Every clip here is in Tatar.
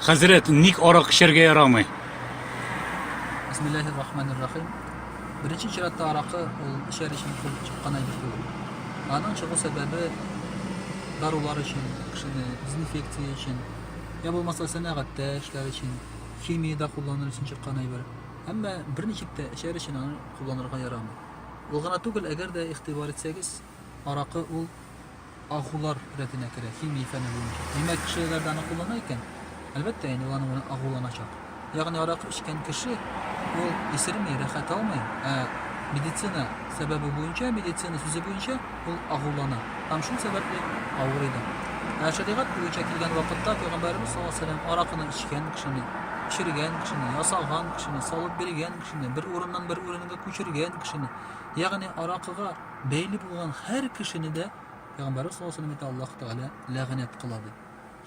Хәзрәт, ник арак эчәргә ярамый? Бисмиллахир рахманир рахим. Беренче чиратта аракы ул эчәр өчен килеп чыккан әйбер түгел. Аның чыгу сәбәбе дарулар өчен, кешене дезинфекция өчен, я булмаса сәнәгатьтә эшләр өчен, химиядә кулланыр өчен чыккан әйбер. Әмма берничек тә эчәр өчен аны кулланырга ярамый. Ул гына түгел, әгәр дә игътибар итсәгез, аракы ул Агулар рәтенә керә, химия фәне буенча. Димәк, кешеләр дә аны куллана икән. Әлбәттә, инде ул аның белән агуланачак. Ягъни аракы эчкән кеше ул исерми, рәхәт алмый, ә медицина сәбәбе буенча, медицина сүзе буенча ул агулана. Һәм шул сәбәпле авырый да. Ә шәригать буенча килгән вакытта пәйгамбәребез саллаллаһу алейһи вәсәлләм аракыны эчкән кешене, пешергән кешене, ясаган кешене, салып биргән кешене, бер урыннан бер урынга күчергән кешене, ягъни аракыга бәйле булган һәр кешене дә Пәйгамбәрбез саллаллаһу алейһи ва Аллаһ Тәгалә ләгънәт кыла ди.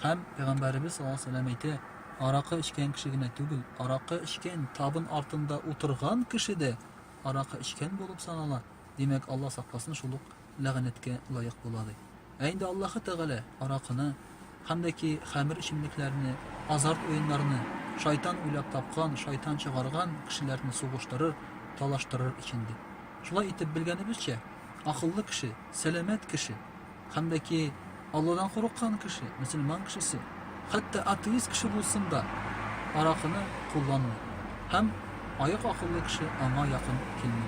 Һәм Пәйгамбәрбез саллаллаһу алейһи әйтә, аракы эчкән кеше генә түгел, аракы эчкән табын артында утырган кеше дә аракы эчкән булып санала, димәк, Аллаһ сакласын, шул ук ләгънәткә лаек була ди. Ә инде Аллаһы Тәгалә аракыны, хәмдәки хәмер эчемлекләрне, азарт уеннарны, шайтан уйлап тапкан, шайтан чыгарган кешеләрне сугыштырыр, талаштырыр өчен ди. Шулай итеп, белгәнебезчә, акыллы кеше, сәламәт кеше, хәмдәки Алладан курыккан кеше, мөселман кешесе, хәтта атеист кеше булсын да, аракыны кулланмый. Һәм аек акыллы кеше аңа якын килми.